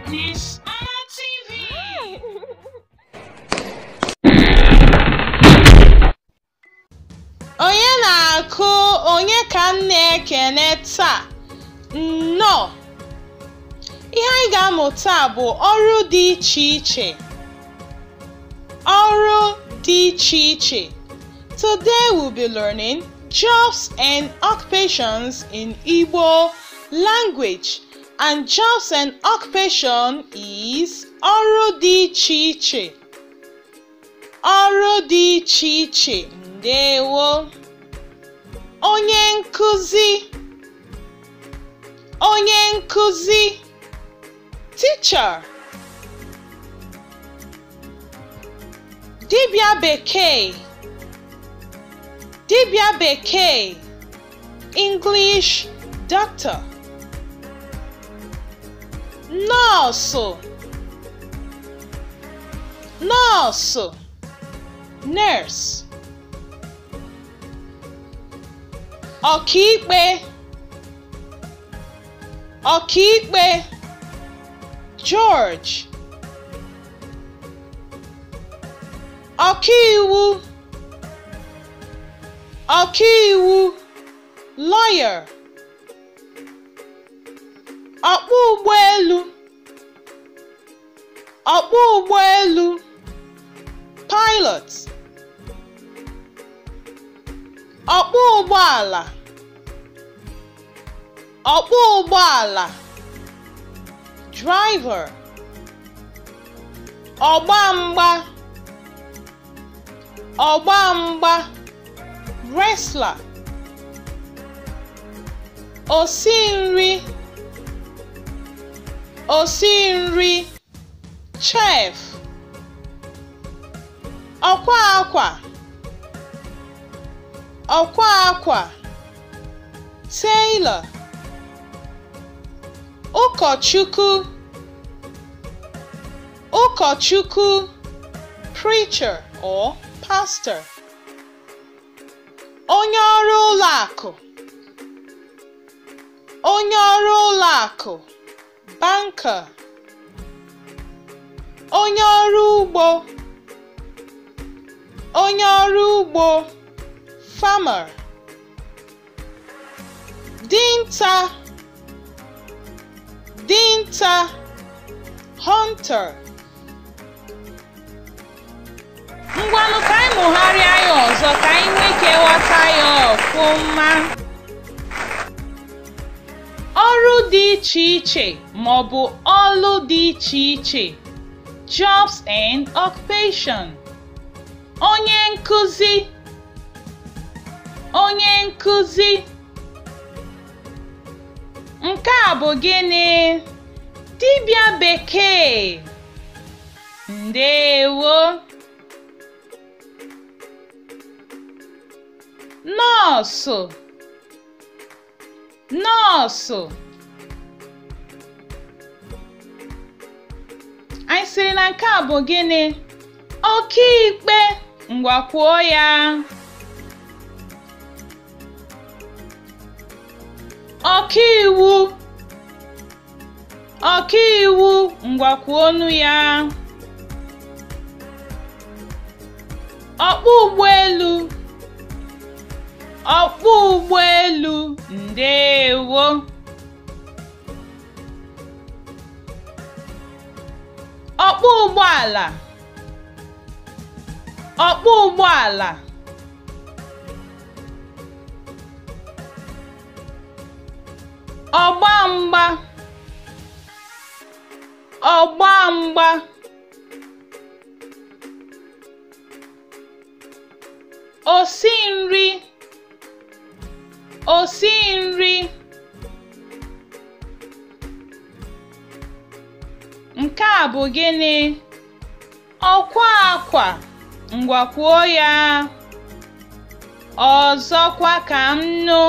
Miss TV. Onye na-akụ onye ka m na-ekene taa? Nnọọ! Ihe anyị ga-amụ taa bụ ọrụ dị iche iche. Ọrụ dị iche iche Today we'll be learning jobs and occupations in Igbo language and jobs and occupation is ọrụ dị iche iche. Ọrụ dị iche iche ndewo. Onye nkụzi Onye nkụzi Teacher Dibịa Bekee Dibịa Bekee English Doctor Nọọsụ Nọọsụ Nurse Ọkaikpe ọkaikpe judge ọkaiwu ọkaiwu lawyer ọkpọ ụgbọelu ọkpọ ụgbọelu pilot ọkpọ ụgbọala ọkpọ ụgbọala driver ọgba mgba ọgba mgba wrestler osi nri osi nri chef ọkwa akwa ọkwa akwa tailor ụkọchukwu Ụkọchukwu preacher or pastor onye ọrụ ụlọ akụ onye ọrụ ụlọ akụ banker onye ọrụ ugbo onye ọrụ ugbo farmer dinta dinta hunter ngwanụ ka anyị mụgharịa ya ọzọ ka anyị nwee ike ghọta ya ọfụma ọrụ dị iche iche ma ọ bụ ọlụ dị iche iche jobs and occupation Onye nkuzi Onye nkuzi Nke a bụ gịnị? Dibịa bekee Ndewo Nọọsụ nọọsụ anyị sịrị na nke a bụ gịnị ọkaikpe ngwa kwuo ya ọkaiwu ọkaiwu ngwa kwuonụ ya ọkpọ ụgbọelu ọkpọ ụgbọelu ndewo ọkpọ ụgbọala ọkpọ ụgbọala ọgba mgba ọgba mgba osi nri osi nri nke a bụ gịnị ọkwa akwa ngwa kwuo ya ọzọkwa ka m nụ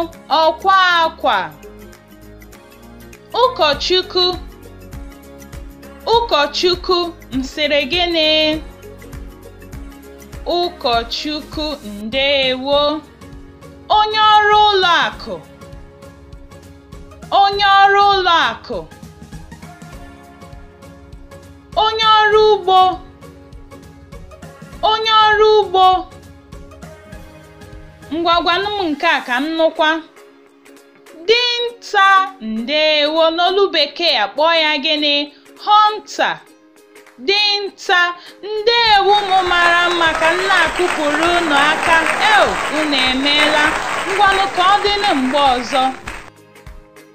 ọkwa akwa ụkọchukwu ụkọchukwu m sịrị gịnị ụkọchukwu ndeewo onye ọrụ ụlọ akụ onye ọrụ ụlọ akụ onye ọrụ ugbo onye ọrụ ugbo ngwa gwanụ m nke a ka m nụkwa dinta ndewo n'olu bekee a kpọọ ya gịnị hunter dinta ndewo ụmụ mara mma ka m na-akụpụrụ unu aka eo unu emeela ngwanụ ka ọ dịnụ mgbe ọzọ